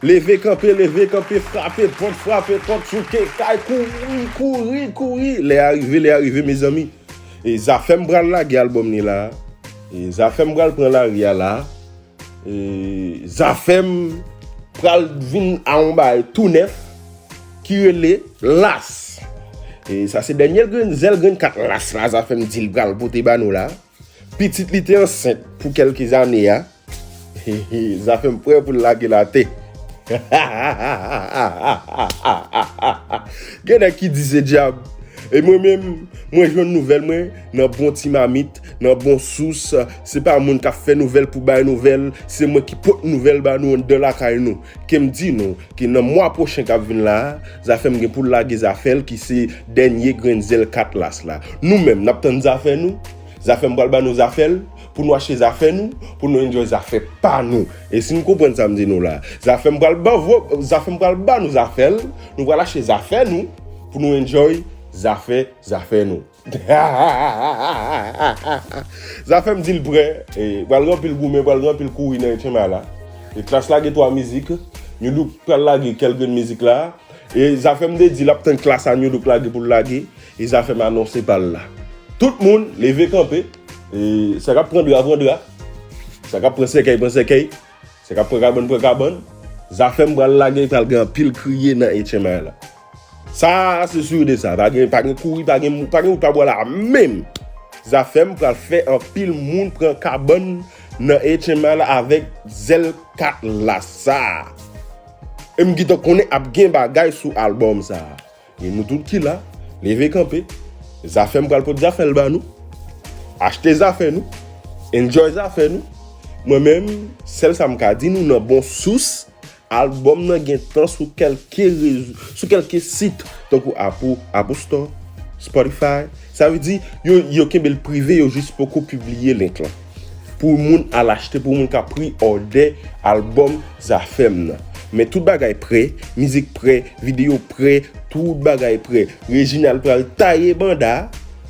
Leve kanpe leve kanpe frape pòt frape pòt souke kay kouri kouri kouri lè a rive lè a rive mezanmi e zafèm pral lage album ni la e zafèm pral pran lari a la e zafèm pral vin a yon bay tou nèf ki rele las e sa se dènye grenn zèl grenn kat las la zafèm dil pral pote ba nou la. Pitit li te ansent pou kelke ane a zafem prè pou l lage l ate hahahahahahahaha gen nèg ki di se dyab e mwen menm mwen jwenn nouvèl mwen nan bon ti mamit nan bon sous se pa moun kap fè nouvèl pou bay nouvèl se mwen ki pot nouvèl ba nou anndan lakay nou Ke m di nou, ke nan mwa pwochen k ap vin la a, Zafèm gen pou l lage zafè l ki se dènye grenn zèl Katlas la. Nou menm, n ap tann zafè nou? Zafèm pral ba nou zafè l, pou nou achte zafè nou, pou nou enjoy zafè pa nou. E si n konprann sa m di nou la? Zafèm pral ba vò, Zafèm pral ba nou zafè l, nou pral achte zafè nou, pou nou enjoy zafè, zafè nou. Zafem dil prè e pral gen anpil goumen pral gen anpil kouri nan etchenma la e klass lage 3 mizik nu look pral lage kel grenn mizik la e zafem te di lap tann klass a nu look lage poul lage e zafem anonse pal la tout moun leve kanpe e sa kap pran dra pran dra sa kap pran sèkèy pran sèkèy sa kap pran kabann pran kabann zafem pral lage pral gen anpil kriye nan etchenma la. Sa a se sur de sa, pa gen pa gen kouri pa gen pa gen wout pa bò la menm! Zafèm pral fè anpil moun pran kabann nan HML avèk zèl kat la sa a! E m gentan konnen ap gen bagay sou albòm sa a! E nou tout ki la, leve kanpe, Zafèm pral pot zafè l ba nou! Achte zafè nou, enjoy zafè nou! Mwen menm, sèl sa m ka di nou nan bon sous, Albòm nan gentan sou kèlke rezo, sou kèlke sit tankou Apple, Apple Store, Spotify. Sa vle di, yo yo kenbe l prive, yo jis poko pibliye link lan. Pou moun al achte, pou moun ka pre òdè albòm Zafèm nan. Men tout bagay prè, mizik prè, videyo prè, tout bagay prè. Reginald pral taye banda,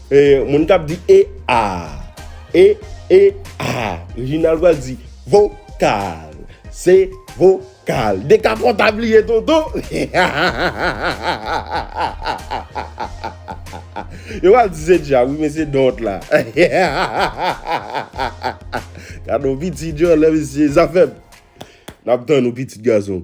e moun kap di e aa, e e aa, Reginald pral di vokal. Se vokal. Dekapòta bliye dodo. Yo pral di se djab wi men se dont la. Gadon pitit djòlè mesye zafèm. Nap tann ou pitit gason.